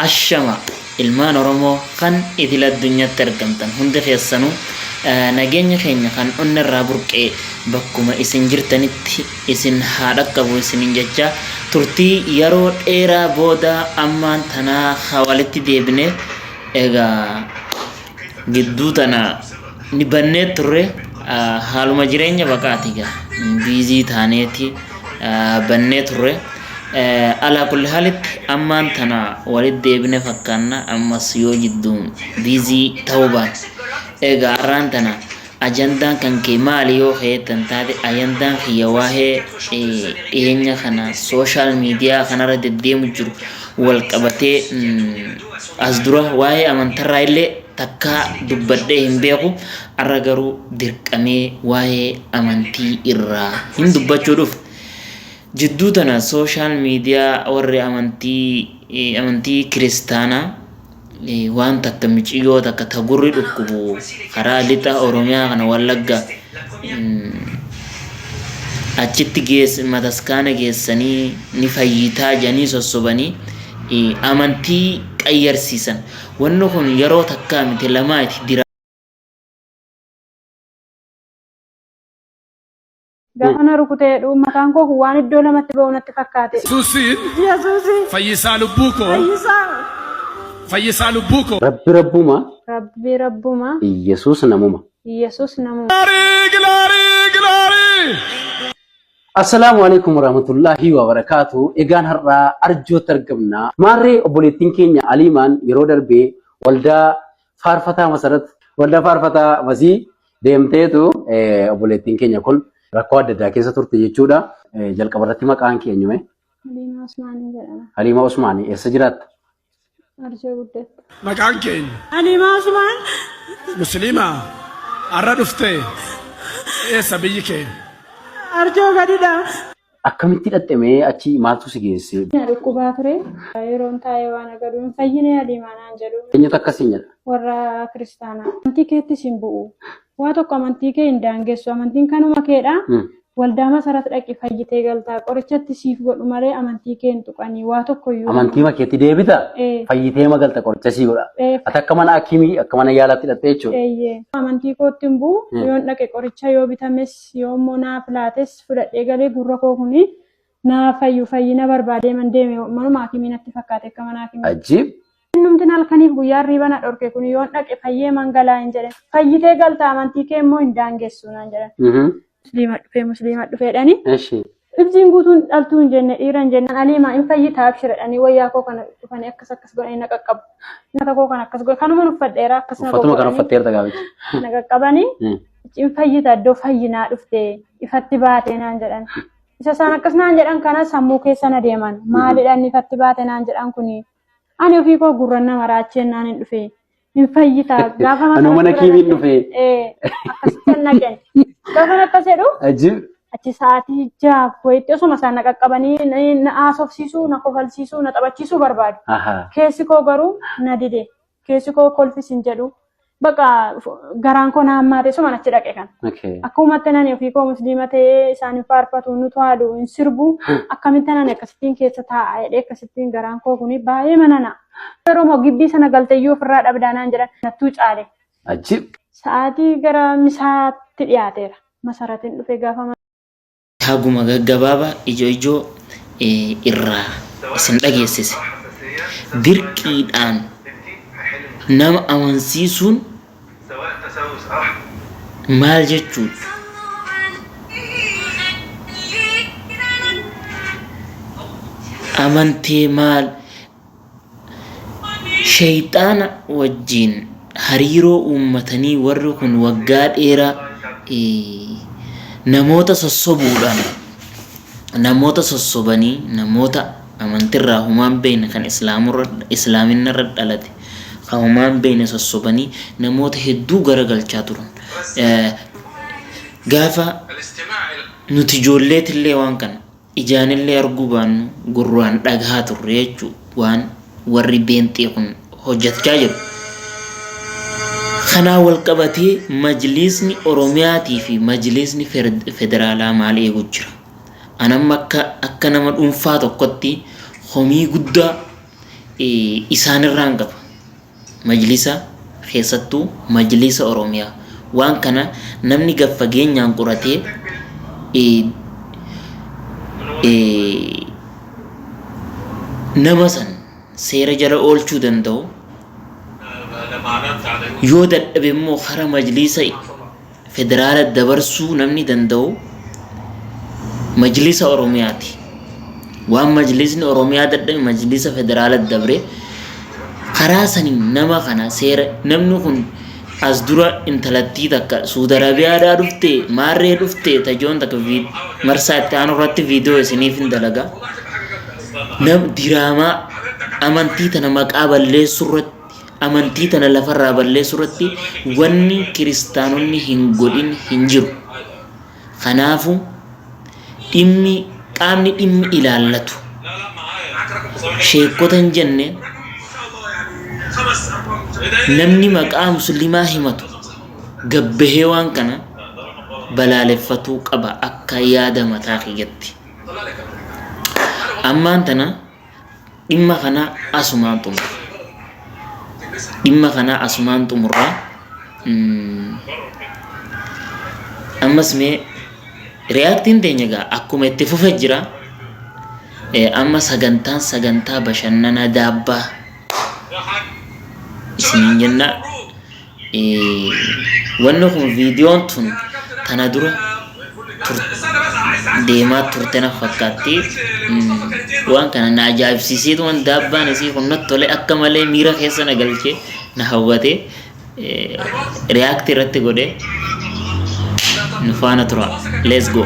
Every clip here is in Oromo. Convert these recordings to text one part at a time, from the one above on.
Ashama ilmaan Oromoo kan idil addunyatti argamtan hundi keessanu nageenyi keenya kan onna irraa burqee bakkuma isin jirtanitti isin haa dhaqqabu isinin jecha turtii yeroo dheeraa booda ammaan tanaa haa walitti deebine egaa gidduu tana ni bannee turre haaluma jireenya baqaati gaa biizii taaneeti bannee turre alaa kulli haalitti ammaan tana walitti deebine fakkaanna ammas yoo jidduu biizii ta'uu baate egaa har'aan tana Ajandaan kan kee maali yoo keetan taate ajandaan kiyya waa'ee dhiyeenya kana sooshaal miidiyaa kanarra deddeemu jiru wal qabatee as dura waa'ee amantarraa illee takkaa dubbadhee hin beeku arra garuu dirqamee waa'ee amantii irraa hin dubbachuu dhufe. Jidduu tana sooshaal miidiyaa warri amantii amantii kiristaanaa waan takka miciyyoo takka ta gurri dhukkubu karaa lixa Oromiyaa kana Wallagga achitti geess mataskaana geessanii ni fayyitaa jedhanii sossobanii amantii qayyarsiisan. Wanni kun yeroo takkaa miti lamaa itti dira. Gaafa na rukute jedhu mataan koo kun waan iddoo lamatti ba'u natti fakkaate. Yesuusiin Yesuusi fayyisaa lubbuu koo fayyisaa fayyisaa lubbuu koo Rabbi Rabbuma, Rabbi Rabbuma Yesuus namuma. Yesuus namuma. gilaarii gilaarii gilaarii. Assalaamu alaikum warahmatullahi wabarakatuh. Egaan har'aa arjootti argamna. Maarree obboleettiin keenya Aliimaan yeroo darbee waldaa faarfataa masarat waldaa faarfataa masii Deemteetu obboleettiin keenya kun rakkoo adda addaa keessa turte jechuudha. Jalqaba irratti maqaan kee eenyume? Haliimaa Usmaanii jedhama. Haliima Usmaanii eessa jiraatta? Arjoo guddatta. Maqaan kee eenyu? Haliimaa Usmaan Musliima har'a dhufte eessa biyyi kee? Arjoo gadidha. Akkamitti dhaqxe mee achi maaltu si geesse? Na dhukkubaa ture. Yeroon taa'ee waan agadhu hin fayyine adiimaa naan jedhu. Eenyutu akkas siin jedha? Warra kiristaanaa. Amantii keettis hin bu'u. Waa tokko amantii kee hin daangessu. Amantiin kanuma keedha. Waldaa masarat dhaqi fayyitee galtaa. Qorichatti siif godhu malee amantii kee hin tuqanii. Waa tokko iyyuu. Amantiima keetti deebita? Ee. Fayyitee ma galta qoricha sii godha? Ee. Ati akka mana akimii akka mana yaalaatti dhaqxe jechuudha. Eeyyee. Amantii kootti hin bu'u. Yoon dhaqe qoricha yoo bitames yoo immoo naaf laates fudhadhee galee gurra koo kuni naa fayyu fayyina barbaadee man deeme manuma akimii natti fakkaate akka mana akimii. Ajib. Innumtin halkaniif guyyaa riiba na dhorke kun yoon dhaqe fayyee man galaa hin jedhe fayyitee galta amantii kee immoo hin daangessu naan jedhan. Mhm. Musliima dhufee musliima dhufeedhani. Eshi. Ibsiin guutuun dhaltuu hin jenne dhiira hin jenne aliimaa hin fayyitaa abshiradhanii wayyaa koo kana dhufanii akkas akkas godhanii na qaqqabu. Nyaata koo kana akkas godhe kanuma uffadheera akkas na Uffatuma kana goggodhanii uffatteerta gaafichi. na qaqqabanii. Mm. Icciin fayyita iddoo fayyinaa dhuftee ifatti baatee naan jedhan. Isa isaan akkas naan jedhan kana sammuu keessa na deeman. Maalidha inni ifatti baate naan jedhan kuni. Ani ofii koo gurran nama raacheen naan hin dhufe. Hin fayyita gaafa Anoo mana kiimiin dhufe. Akkasitti hin naqen. Gaafa akkas jedhu Ajib. achi sa'aatii jaaf wayitti osuma isaan na qaqqabanii na- na haasofsiisuu, na kofalsiisuu, na taphachiisuu barbaadu. Ahaa. Keessi koo garuu na dide. keessi koo kolfis hin jedhu. Baqa garaan koo na hammaate suman achi dhaqe kan. Okay. Akkuma tanan ofii koo musliima ta'ee isaan hin faarfatu nu to'aadu hin sirbu akkamitti tanan akkasittiin keessa taa'a jedhee akkasittiin garaan koo kuni baay'ee manana. Yeroo moo gibbii sana galteyyuu ofirraa dhabdaa naan jedhan nattuu caale. Ajib. Sa'aatii gara misaatti dhiyaateera. Masaratiin dhufe gaafa Haguma gaggabaaba ijo ijo irraa isin dhageessise. Dirqiidhaan nama amansiisuun maal jechuudha? Amantee maal? Sheyxaana wajjiin hariiroo uummatanii warri kun waggaa dheeraa namoota sossobuudhaan namoota sossobanii namoota amantirraa humaan beeyne kan islaaminarra dhalate kan humaan beeyne sossobanii namoota hedduu garagalchaa turan. Gaafa nuti ijoolleetillee waan kana. Ijaanillee arguu baannu gurraan dhagahaa turre jechuu waan warri beenxee kun hojjatchaa jiru. Kanaa wal qabatee majliisni Oromiyaatii fi majliisni federaalaa maal eegu jira? An amma akka akka nama dhuunfaa tokkotti komii guddaa isaanirraan qaba. Majlisa, keessattuu Majliisa Oromiyaa. Waan kana namni gad fageenyaan qoratee nama san seera jala oolchuu danda'u, yoo dadhabe immoo kara Majliisa federaala dabarsuu namni danda'u majlisa Oromiyaati. Waan majlisni Oromiyaa dadhabe majlisa federaala dabre karaa saniin nama kana seera namni kun as dura intalattii takka Suudi Arabiyaadhaa dhufte maarree dhufte tajoon takka vi- marsaa itti aanu irratti viidiyoo isiniif hin dalaga. Nam diraamaa amantii tana maqaa balleessuu irratti Amantii tana lafarraa balleessuurratti wanni kiristaanonni hin godhin hin jiru. Kanaafu dhimmi qaamni dhimmi ilaallatu sheekkota hin jenne namni maqaa muslimaa himatu gabbahee waan kana balaaleffatuu qaba akka yaada mataa kiyyatti. Ammaan tana dhimma kana asumaan xumura. Dhimma kana asumaan xumura. Ammas mee reyaaktiin teenya egaa akkuma itti fufe jira. Amma sagantaan sagantaa bashannanaa daabbaa isiniin jenna. wanni kun viidiyoon tun tana dura deemaa turte na fakkaatti waan kana na ajaa'ibsiiseetu waan daabbaan isii kun natti tole akka malee miira keessa na galche na hawwate riyaakti irratti godhe nu faana tura let's go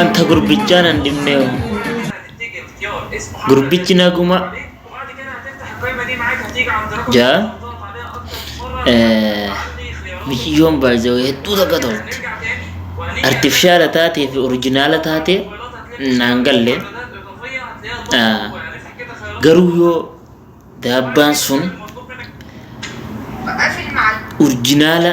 Anta gurbichaa nan dhibnee hoo. Gurbichi naguma jaa eh, miciyyoon baay'ee hedduu takka tolti. Artifishaala taatee fi orijinaala taatee naan galle. Ah, Garuu yoo daabbaan sun urjinaala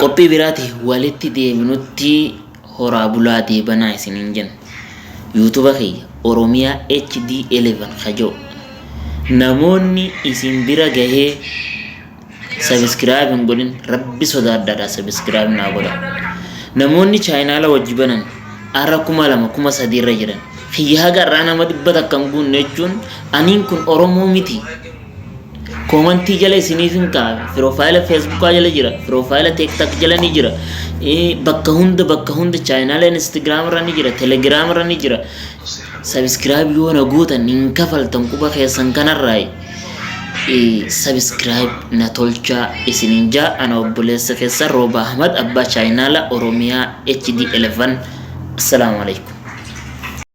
Qophii biraati walitti deebinutti horaa bulaa deebanaa isiniin jenna. Yuutuba kiyya Oromiyaa HD11 kajoo. Namoonni isin bira gahee sabiskiraayib hin godhin rabbi sodaadhaadha sabiskiraayib naa godha. Namoonni chaayinaala wajji banan ara kuma lama kuma sadii irra jiran kiyya haga irraa nama dhibba takka hin guunne jechuun aniin kun Oromoo miti. Koomantii jala isiniif hin kaa'a. Piroofaayila Feesbuukaa jala jira. Piroofaayila Teektak jala ni jira. Eh, Bakka hunda bakka hunda chaayinaala Instagiraam irra ni jira. Telegiraam irra ni jira. Sabiskiraayib yoo na gootan hin kafaltan quba keessan kanarraayi. sabiskiraayib na tolchaa isinin jaa ana obboleessa keessa rooba ahmad abbaa chaayinaala oromiyaa hd 11 assalaamu alaikum